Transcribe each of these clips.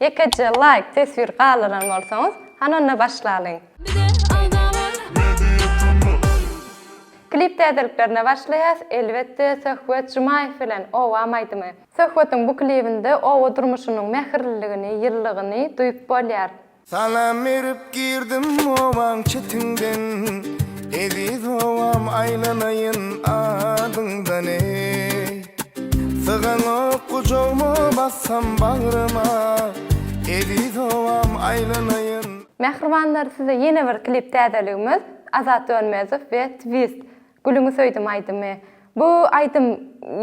Ýekeje laýk teswir galdyran bolsaňyz hany onda başlalyň. Klip täzeliklerine başlaýas elbetde Söhbet Jumaýew bilen Obam aýdymy. Söhbetiň bu klibinde oba durmuşynyň mähirliligini, ýyllygyny duýup bolýar. Salam berip girdim obaň çetinden Eziz obam aýlanaýyn adyňdan eý. Syganok gujagma bassam bagryma Eziz owam aýlanaýyn. Mähribanlar size ýene bir klip täzeligimiz Azat Dönmezow we Twist Gülüňi söýdüm aýdymy. Bu aýdym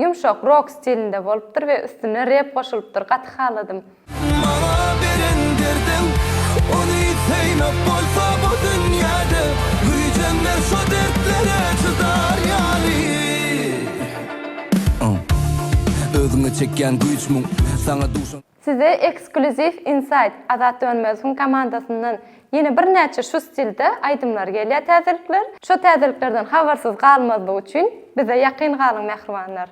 ýumşak rok stilinde bolupdyr we üstüne rep goşulypdyr gaty haladym. Maňa beren derdiň ony synap bolsa bu dünýäde güýjem ber şo dertlere çydar ýaly Özüňe çekýän güýç muň saňa duşan. Size ekskluziw insaýt Azat Dönmezowyň komandasyndan ýene birnäçe şu stilde aýdymlar gelýär täzelikler. Şo täzeliklerden habarsyz galmazlyk üçin bize ýakyn galyň mähribanlar.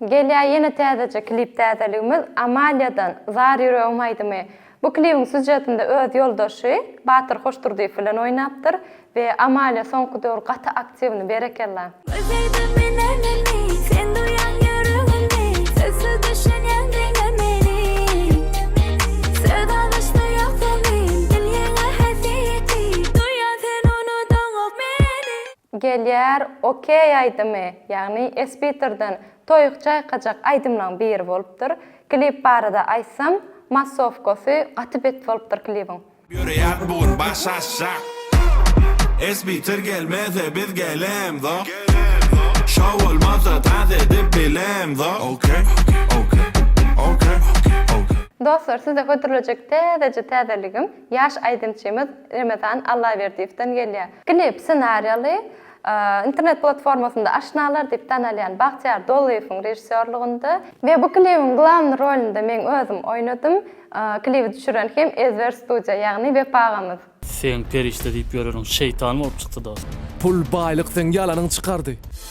Gelýä ýene täzeje klip täzeligimiz Amaliýadan Zar ýüregim aýdymy. Bu klibiň sýužetinde öz ýoldaşy Batyr Hoşdurdyýew bilen oýnapdyr we Amaliýa soňky döwür gaty aktiwny berekella. Gözledim men älemni sen duýaň ýüregimni Sözsüz düşünýäň diňe meni Söz alyşda ýok zemin dil ýeňe häsiýeti Duýýaň sen unudaňok meni. Gelýär Okey aýdymy, ýagny Espiterden toýuk çaýkajak aýdymlaň biri bolupdyr. Klip barada aýtsam, massowkasy gaty bet bolupdyr klibiň. Ýöreýär bu gün baş aşak. Espiter gelmese biz gelemzok. Şou bolmasa tans edip bilemzok. Okey okey okey okey. Dostlar size hödürlejek täzeje täzeligim ýaş aýdymçymyz Remezan Allaberdiýewden gelýär. Klip ssenariýaly, internet platformasynda Aşnalar diýip tanalýan Bagtyýar Dolyýewiň režissýorlygynda. We bu klibiň glawny rolunda meň özüm oýnadym. Klibi düşüren hem Ezber studiýa, ýagny Wepa agamyz. Seň perişde diýip ýöreriň şeýtan bolup çykdy dost. Pul baýlyk seň ýalanyň çykardy.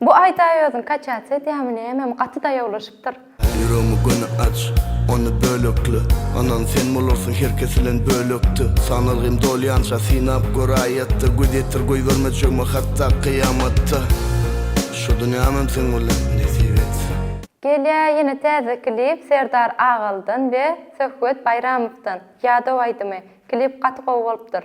Bu aýdaý özüň kaçýat edýämi nämemi gaty daýawlaşypdyr. Ýüregimi göni aç, ony bölekle, Anan sen bolarsyň her kes bilen bölekde. Sanalgym dolýança synap gör aýatda, Göz ýetir goýberme çögme hatda kyýamatda. Şu dünýämem seň bilen nesip etsin. Gelýä ýene täze klip Serdar Agalydan we Söhbet Baýramowdan, Ýadaw aýdymy. Klip gaty gowy bolupdyr.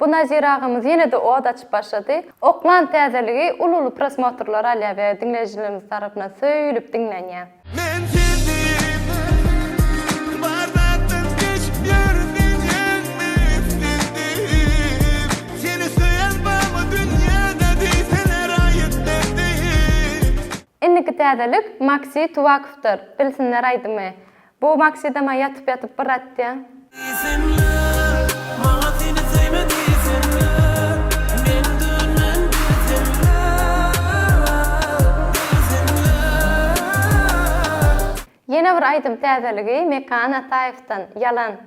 Bu Nazir agamyz ýene-de ot açyp başlady. Oklan täzeligi uly-uly prosmotrlar alýar we diňleýjilerimiz tarapyndan söýülip diňlenýär. Men seniň bar zatdan geçip ýörün diýýäňmi islendim Seni söýen barmy dünýäde diýseler aýyt mendim. Indiki täzelik Maksy Tuwakowdyr, Bilsinler aýdymy. Bu maksidama ýatyp ýatyp bir atýaň. Diýsinler, maňa seni söýme diýsinler, men dönmen diýsinler, diýsinler. Ýene bir aýdym täzeligi Mekan Ataýewden, Ýalan.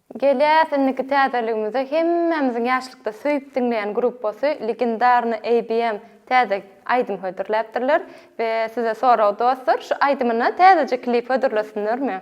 Gelýäs indiki täzeligimize hemmämiziň ýaşlykda söýüp diňleýän gruppasy Legendarny ABM täze aýdym hödürläpdirler we size sorag dostlar şu aýdymyna täzeje klip hödürlesinlermi?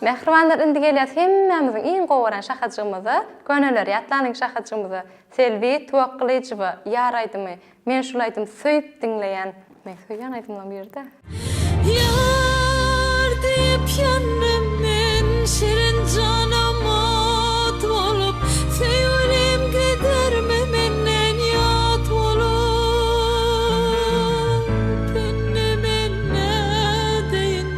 Mähribanlar indi gelýäs hemmämiziň iň gowy gören şahajygymyza, köneler ýatlanyň şahajygymyza, Selbi Tuwakgylyjowa Ýar aýdymy, men şul aýdymy söýüp diňleýän, meň söýýän aýdymlaryň biri-dä. Ýar diýip ýandym men şirin janam ot bolup, söýgülim gidermi menden ýat bolup, indi men nädeýin.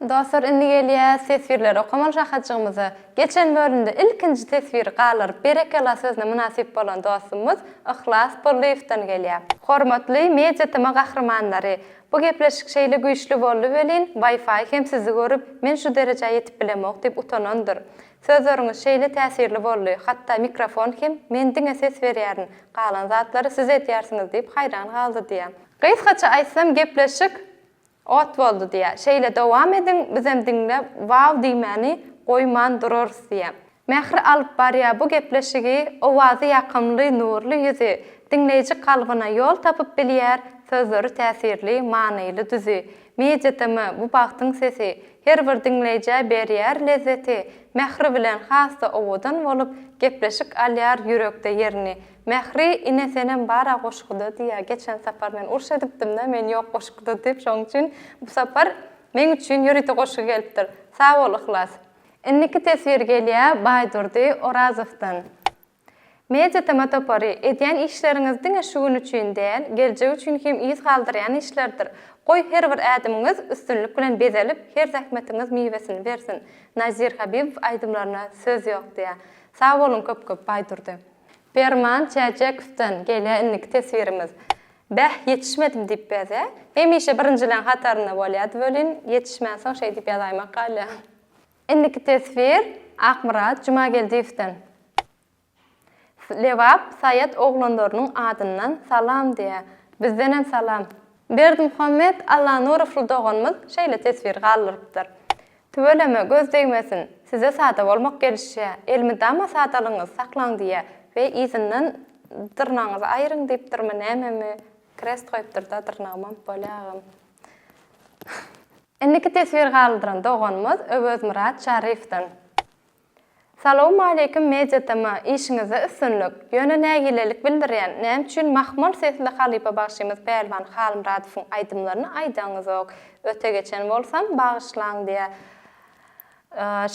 Dostlar indi gelýäs teswirleri okamaly şahyjygymyza. Geçen bölümde ilkinji teswiri galdyryp berekella sözüne mynasyp bolan dostumyz Yhlas Bollyýewden gelýär. Hormatly Media TM gahrymanlary! Bu gepleşik şeýle güýçli boldy welin, Wi-Fi hem sizi görüp, men şu derejä ýetip bilemok diýip utanandyr. Sözleriňiz şeýle täsirli boldy, hatda mikrofon hem men diňe ses berýärin, galan zatlary siz edýärsiňiz diýip haýran galdy diýýär. Gysgaça aýtsam gepleşik Ot boldy diýýär. Şeýle dowam ediň, bizem diňle waw diýmäni goýman durarys diýýär. Mähri alyp barýar bu gepleşigi, owazy ýakymly, nurly ýüzi, diňleýji kalbyna ýol tapyp bilýär, sözleri täsirli, manyly düzi. Media-TM, bu bagtyň sesi, her bir diňleýjä berýär lezzeti, mähri bilen has-da owadan bolup, gepleşik alýar ýürekde ýerini. Mähri ine senem bara goşguda diýýä geçen sapar men urş edipdimdä men ýok goşguda diýip şoň üçin bu sapar meň üçin ýörite goşgy gelipdir sag bol Yhlas. Indiki teswir gelýä Baýdurdy Orazowdan Media tema topary edýän işleriňiz diňe şu gün üçin däl geljek üçin hem yz galdyrýan işlerdir goý her bir ädimiňiz üstünlik bilen bezelip her zähmetiňiz miwesini bersin Nazir Habibow aýdymlaryna söz ýok diýýä sag boluň köp köp Baýdurdy. Perman Çäçekowdan gelýär indiki teswirimiz. Bäh, ýetişmedim diýip bezä. Hemişe birinjileň hatarynda bolýardy welin, ýetişmänsoň şeý diýip ýazaýmak galýar. Indiki teswir Akmyrat Jumageldiýewden. Lebap Saýat oglanlarynyň adyndan salam diýýär. Bizdenem salam. Berdimuhammet Allanurow doganymyz şeýle teswir galdyrypdyr. Tüweleme göz degmesin, size sada bolmak gelişýä, elmydama sadalygyňyzy saklaň diýýä we yzyndan dyrnagyňyzy aýryň diýipdirmi nämemi krest goýupdyrda dyrnagymam bolýa agam. Indiki teswir galdyran doganymyz Öwezmyrat Şarifdan. Salowmaleýkim Media TM işiňizde üstünlik, ýöne nägilelik bildirýän näme üçin mahmal sesli halypa bagşymyz Pälwan Halmyradowyň aýdymlaryny aýdaňyzok, öte geçen bolsam bagyşlaň diýä.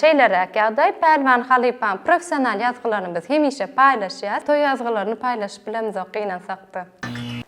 Şeýleräk ýagdaý Pälwan halypaň professional ýazgylaryny biz hemişe paýlaşýas, toý ýazgylaryny paýlaşyp bilemizok gynansakda.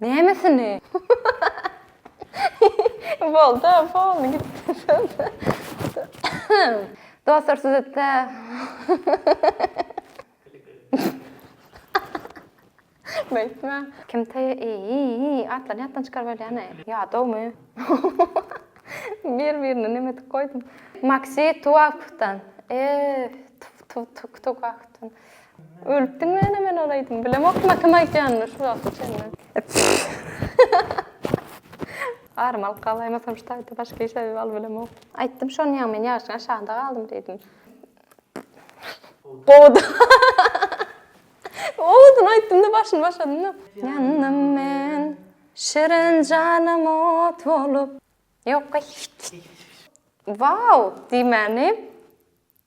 Nämesini? Bolda, boldy, gitdi söz. Dostlar, siz etde. Beýtme. Kim taýy? Eý, atlary ýatdan çykaryp ölýäni. Ýadawmy? Bir-birini neme edip goýdum. Maksi Tuwakdan. Eý, tuw-tuw-tuw-tuwakdan. Ölüpdiň mene men ol aýdym bilemokma kim aýtýanyny şu wagta çenli. Garym alyp galaýmasam şu taýda başga iş aýdyp al bilemok. Aýtdym şony ýa men ýaşyň aşagynda galdym diýdim. Gowudy. Gowudyny aýtdymda başyny başladymda. Ýandym men şirin janym ot bolup. Ýok goý. Waw diýmäni.